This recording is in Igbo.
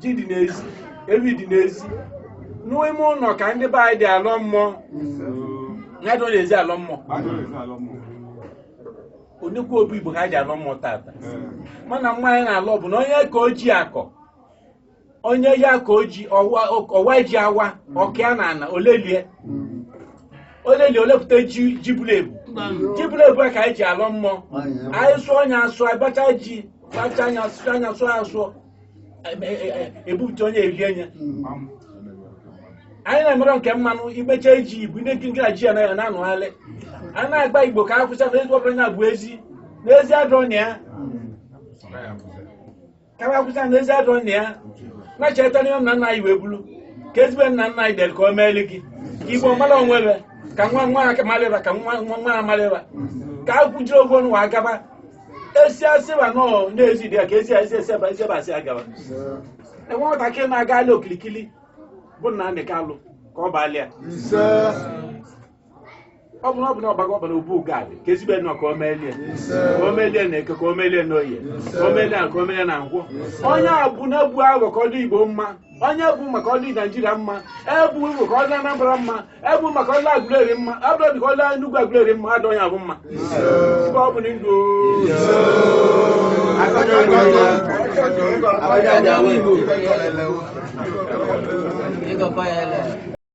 ji dị n'ezi ewi dị n'ezi n'ime ụnọ ka ndị be anyị ji alọ mmụọ a dịrọ n'ezi alọ mmụọ onyekwa obi igbo ka anyị ji alọ mmụọ tata mana mmụọ anyị na-alọ bụ na onye ka ọ ji akọ onye ya ka o ji ọwa ọwa ji awa ọ kọọ ya n'ana olelie olelie olepụta ji ji buru ebu ji buru ebu a ka anyị ji alọ mmụọ anyị sụọ onye asụ abacha ji sacha anyị sụcha anyị sụọ ya sụọ e- e- e- ebupụta onye erie nye anyị na-emere nke mmanụ imecha iji igwe ndị nkiri na ji ya na- na-anụgharị a na-agwa igbo ka akwụsị na ezigbo ọbụla na-abụ ezi n'ezi adọ na ya ka a akwụsị na n'ezi adọ na ya na-echeta n'ihe nna nna anyị wee bulu ka ezigbo nna nna anyị dere ka o meeli gị ka igbo mara onwe ebe ka nwa nwa aka malịba ka nwa nwa nwa amalịba ka a kwujiri ogwu ọnụ wa agaba esi asịba nọ na-esi dị ya ka esi esi esi ebe esi ebe asị agawa enwe nwatakịrị na-agalị okilikili bụ na ndị kalụ ka ọ baala ya ise ọ bụrụ ọ bụla ọgbago ọ baa obu gad ka ezigbo nnọọ ka o melie ise ka o melie na eke ka o melie na oye ka o melie na ka o melie na nkwọ onye a bụ na-ebu aghọ ka ọ dị igbo mma onye bụ maka ọdị naijiria mma ebu igbo ka ọ dị anambra mma ebu maka ọdị aguleri mma abụrụ ka ọ dị enugwu aguleri mma adọ ya bụ mma ibe ọ bụ na ndụ Abacha dị awụ Igbo. Ịgọkọ ya ele.